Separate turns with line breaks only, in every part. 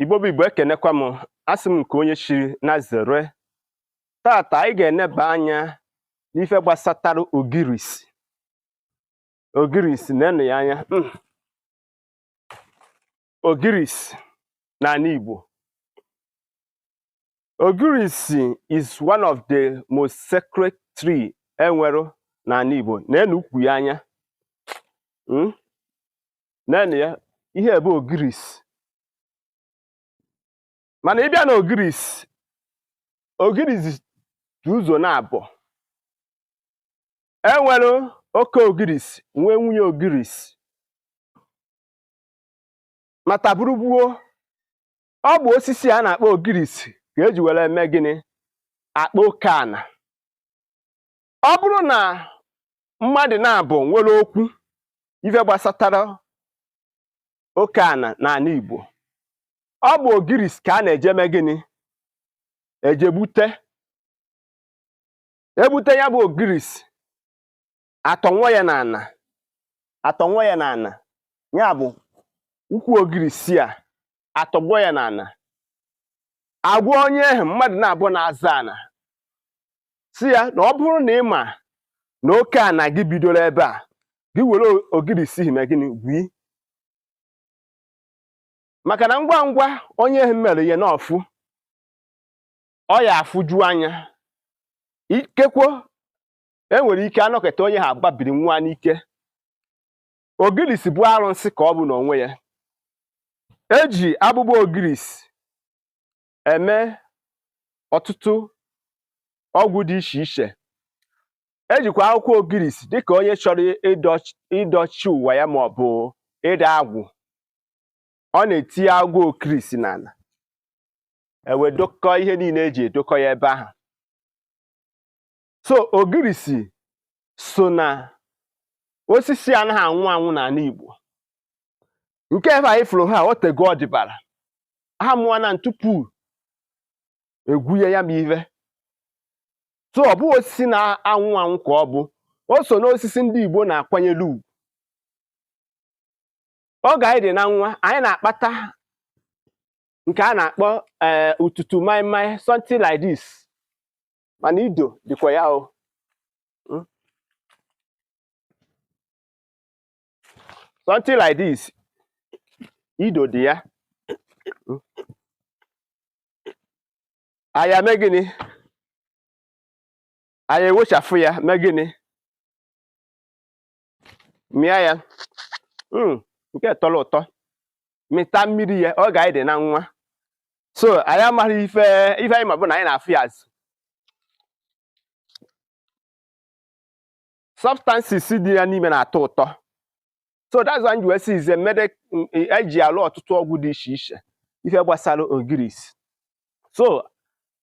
igbo bụ igbo ekenekwa m asị m nke onye chiri nya zere tata anyị ga-eneba anya n'ife gbasatara ogirisi ogirisi nenụ ya anya hmm. ogirisi n'ana igbo ogirisi is one of the most sacred tree enwere n'ana igbo nenụ ukwu ya anya hmm. nenụ ya ihe a bụ ogirisi mana ị bịa na ogirisi ogirisi dị ụzọ naabọ e nwere oke ogirisi nwee nwunye ogirisi ma taa bụrụ gboo ọ bụ osisi a na-akpọ ogirisi ka eji were eme gịnị akpa oke ana ọ bụrụ na mmadụ naabọ nwere okwu ife gbasatara oke ana n'ana Igbo ọ bụ ogirisi ka a na-eje mee gịnị eje gbute egbute ya bụ ogirisi atọnwụọ ya n'ana atọnwụọ ya n'ana ya bụ ukwu ogirisi a atọgbọ ya n'ana agwa onye ahụ mmadụ naabọ na-azọ ana sị ya na ọ bụrụ na ị ma na oke ana gị bidoro ebe a gị were ogirisi ahụ mee gịnị gwi maka na ngwa ngwa onye ahụ mere ya n'ọfụ ọ ya afụju anya ikekwo enwere ike anọkata onye ahụ agbabiri nwụa n'ike ogirisi bụ arụsị ka ọ bụ n'onwe ya eji agbụgbọ ogirisi eme ọtụtụ ọgwụ dị iche iche ejikwa akwụkwọ ogirisi dịka onye chọrọ ịdọchi ụwa ya ma ọ bụ ịdọ agwụ ọ na-etinye akwụkwọ ogirisi n'ala e wee dokọ ihe niile eji edokọ ya ebe ahụ so ogirisi so na osisi anaghị anwụ anwụ n'ana Igbo nke ebe anyị fụrụ ha o tego ọ dịbara ha mụọ na tupu egwunye ya bụ ive so ọ bụghị osisi na-anwụ anwụ ka ọ bụ o so n'osisi ndị Igbo na-akwanyere ugwu oge anyị dị na nwa anyị na-akpata nke a na-akpọ eh, ututu maịmaị something like this mana ido dịkwa ya o Hmm? something like this ido dị ya Hmm? anyị eme gịnị anyị ewechafụ ya mee gịnị mịa ya hmm, nke tọrọ ụtọ mịta mmiri ya oge anyị dị na nwa so anyị amaghị ife ife anyị ma bụ na anyị na-afụ ya as substances dị ya n'ime na-atọ ụtọ so that's why m ji wee sị is a mede eji alụ ọtụtụ ọgwụ dị iche iche ife gbasara ogirisi so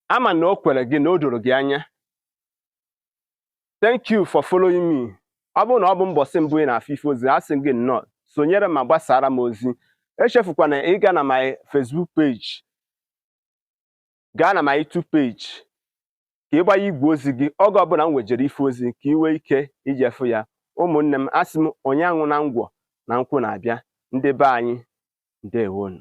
ama na o kwere gị na o doro gị anya thank you for following me ọ bụrụ na ọ bụ mbọsị mbụ ị na-afụ ife ozi asị gị nnọọ sonyere m ma gbasara m ozi echefukwana ịga na my Facebook page gaa na my YouTube page ka ị gbanye igwe ozi gị oge ọbụla m wejere ife ozi ka ị nwee ike ije fụ ya ụmụnne m asị m onye anwụna ngwọ na nkwụ na-abịa ndị be anyị ndewonu